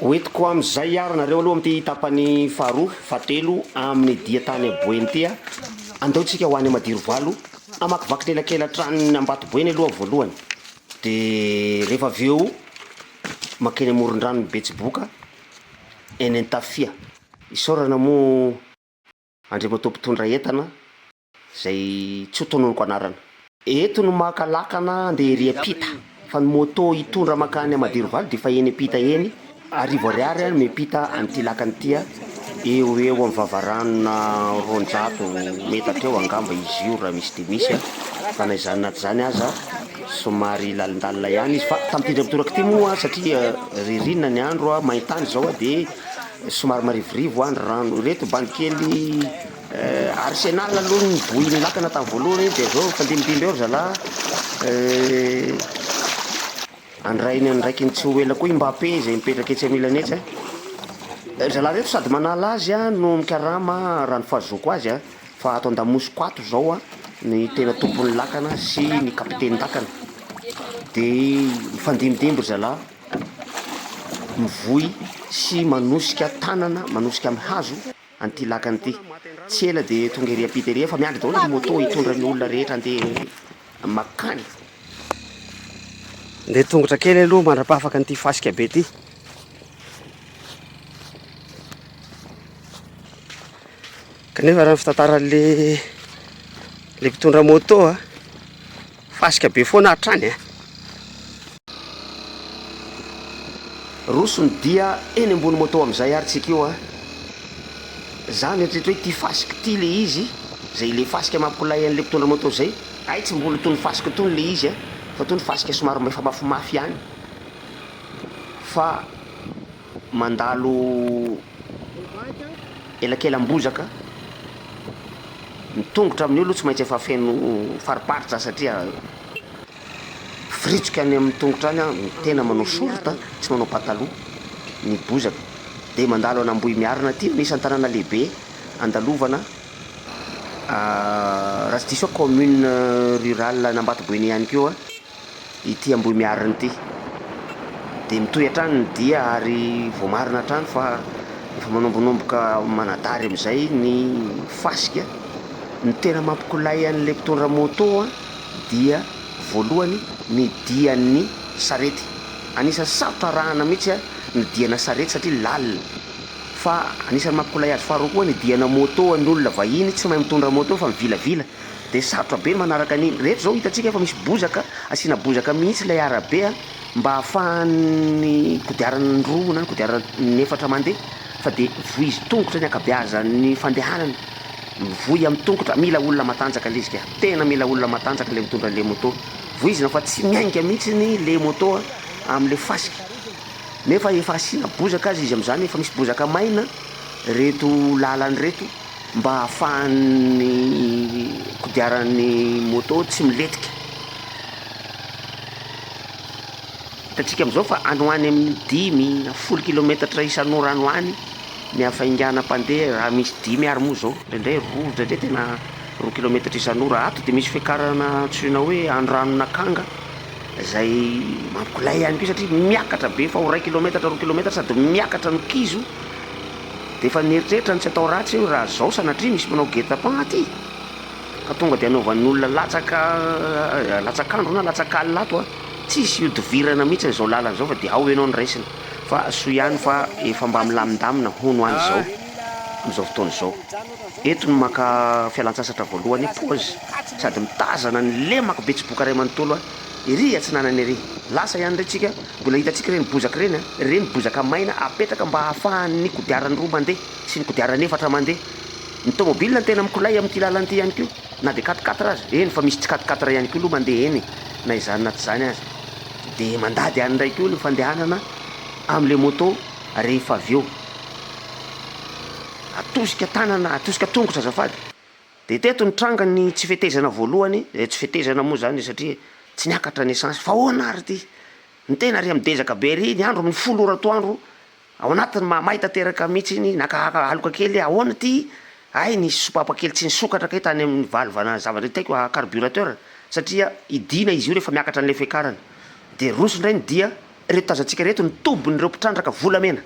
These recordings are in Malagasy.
Hoentiko amin' izay àry nareo aloha amin'ity tapany faharoa, fahatelo amin'ny dia tany Aboeny ity a! Andao tsika ho any Madirovalo hamakivaky ny elakelan-tranon'i Ambatoboeny aloha voalohany, dia rehefa avy eo mankeny amoron-dranon'i Betsiboka, eny Antafia. Isaorana moa Andriamatoa mpitondra entana izay tsy ho tononiko anarana. Eto no maka lakana handeha ery ampita fa ny moto hitondra mankany Madirovaly dia efa eny ampita eny, arivo ariary no miampita an'ity lakana ity, eo ho eo amin'ny vavaranona roanjato metatra eo angamba izy io raha misy dia misy fa na izany na tsy izany aza somary lalindalina ihany izy fa tampiditra mitoraka ity moa satria ririnina ny andro, main-tany izao dia somary marivorivo ny rano, ireto bandy kely Arsenal aloha ny boy nilakana tamin'ny voalohany dia zao mifandimidimby eo ry zalahy andrainy andraikiny tsy ho ela koa i Mbappé izay mipetraka etsy anilany etsy a ry zalahy reto sady manala azy a no mikarama raha ny fahazoako azy a fa ato andamosiko ato zao a ny tena tompon'ny lakana sy ny kapitenin-dakana dia mifandimidimby ry zalahy mivoy sy manosika tanana manosika amin'ny hazo an'ity lakana ity. Tsy ela dia tonga ery ampita ery, efa miandry daholo ny moto hitondra ny olona rehetra handeha mankany. Ndeha tongotra kely aloha mandrapahafaka an'ity fasika be ity. Kanefa raha ny fitantaran'le le mpitondra moto a. Fasika be foana hatrany a! Roso ny dia eny ambony moto amizay ary tsika io a! Za mieritreritra hoe ty fasika ty le izy zay le fasika mampilay anle mpitondra moto zay, hay tsy mbola tony fasika tony le izy a! fa tony fasika somary efa mafimafy ihany fa. mandalo elakelam-bozaka, ny tongotra amin'io aloha tsy maintsy efa feno fariparitra satria miforitsoka any amin'ny tongotra any, ny tena manao short tsy manao pataloha ny bozaka, dia mandalo any Ambohimiarina aty no isan'ny tanàna lehibe andalovana raha tsy diso aho commune rurale an'Ambatoboeny ihany koa Ity Ambohimiarina ity. Dia mitohy hatrany ny dia ary voamarina hatrany fa efa manombonomboka manadary amin'izay ny fasika. Ny tena mampikolay an'ilay mpitondra moto dia voalohany ny dian'ny sarety. Anisan'ny sarotra arahana mihitsy ny diana sarety satria lalina. Fa anisan'ny mampikolay azy faharoa koa ny diana moto ny olona vahiny tsy mahay mitondra moto fa mivilavila. Dia sarotra be ny manaraka an'iny. Rehefa izao hitantsika fa misy bozaka, asiana bozaka mihitsy ilay arabe an, mba ahafahan'ny kodiaran-droa na ny kodiaran'efatra mandeha, fa dia voizin-tongotra ny ankabeazan'ny fandehanana, mivoy amin'ny tongotra, mila olona matanjaka ilay izy ka, tena mila olona matanjaka ilay mitondra an'ilay moto, voizina fa tsy miainga mihitsy ny ilay moto amin'ilay fasika, nefa efa asiana bozaka aza izy amin'izany, efa misy bozaka maina ireto lalana ireto. mba hahafahan'ny kodiaran'ny moto tsy milentika. Hitantsika amin'izao fa any ho any amin'ny dimy na folo kilometatra isan'ora any ho any ny hafaingana mpandeha raha misy dimy ary moa izao, indraindray roa, indraindray tena roa kilometatra isan'ora. Ato dia misy fiakarana antsoina hoe Andranonakanga izay mampilay ihany koa satria miakatra be fa ho iray kilometatra, roa kilometatra sady miakatra no kizo. Dia efa nieritreritra ny tsy atao ratsy io raha zao sanatria misy manao guet-apens aty ka tonga dia anaovan'ny olona latsaka latsak'andro na latsak'alina ato a! Tsisy ihodivirana mihitsy izao lalana izao fa dia ao ianao no raisina fa soa ihany fa efa mba milamindamina hono any izao amin'izao fotoana izao. Eto no maka fialantsasatra voalohany pause sady mitazana ny lemako be tsiboka ray manontolo a! Ery atsinanana ery! Lasa ihany re tsika. Mbola hitantsika ireny bozaka ireny an! Ireny bozaka maina apetraka mba hahafahan'ny kodiaran-droa mandeha sy ny kodiaran' efatra mandeha. Ny tomobilina no tena mikolay amin'ity lalana ity ihany koa, na dia quatre quatre aza, eny fa misy tsy quatre quatre ihany koa aloha mandeha eny e! na izany na tsy izany aza dia mandady any indray koa ny fandehanana amin'ilay moto rehefa avy eo atosika tanana, atosika tongotra azafady. Dia teto nitranga ny tsy fetezana voalohany, eh, tsy fetezana moa izany satria tsy niakatra ny essence, fa ahoana ary ity? Ny tena ry midezaka be ry, ny andro amin'ny folo ora atoandro, ao anatiny mahamay tanteraka mihitsy iny, naka aloka kely, ahoana ity? Hay nisy sopapa kely tsy nisokatra kay tany amin'ny valvana zavatra itaiko ah, carburateur, satria hidiana izy io rehefa miakatra an'ilay fiakarana. Dia roso indray ny dia, ireto tazantsika ireto ny tobin'ireo mpitrandraka volamena.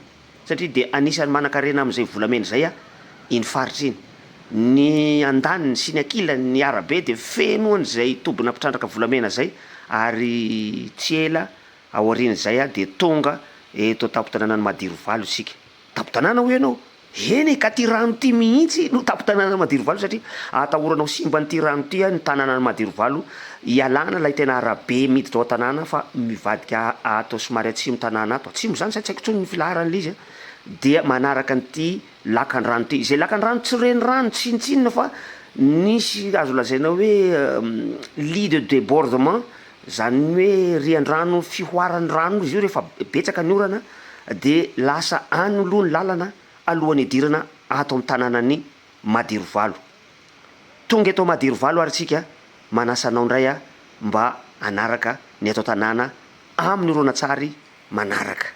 satria dia anisan'ny manan-karena amin'izay volamena izay iny faritra iny. Ny andaniny sy ny ankilany ny arabe dia feno an'izay tobina mpitrandraka volamena izay ary tsy ela aorian'izay dia tonga eto an-tampon-tanànan'i Madirovalo isika. Tampon-tanàna hoy ianao? Eny e, ka ity rano ity mihitsy no tampon-tanànan'i Madirovalo satria atahoranao simban'ity rano ity ny tanànan'i Madirovalo Ialana ilay tena arabe miditra ao an-tanàna fa mivadika ato somary atsimon'ny tanàna ato, atsimo izany sa tsy haiko intsony ny filaharan'ilay izy a, dia manaraka an'ity lakandrano ity. Izay lakandrano tsy renirano tsinontsinona fa nisy azo lazaina hoe lit de débordement, izany hoe rian-drano fihoaran'ny rano izy io rehefa betsaka ny orana dia lasa any aloha ny lalana alohan'ny hidirana ato amin'ny tanànan'i Madirovalo. Tonga eto Madirovalo ary tsika manasa anao ndray ah mba hanaraka ny eto an-tanàna amin'ny horonantsary manaraka.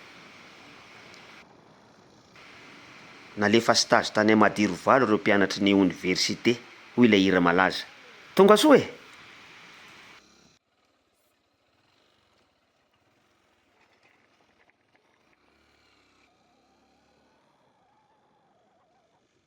Nalefa stage tany Madirovalo ireo mpianatry ny oniversite hoy ilay hira malaza. Tonga soa e!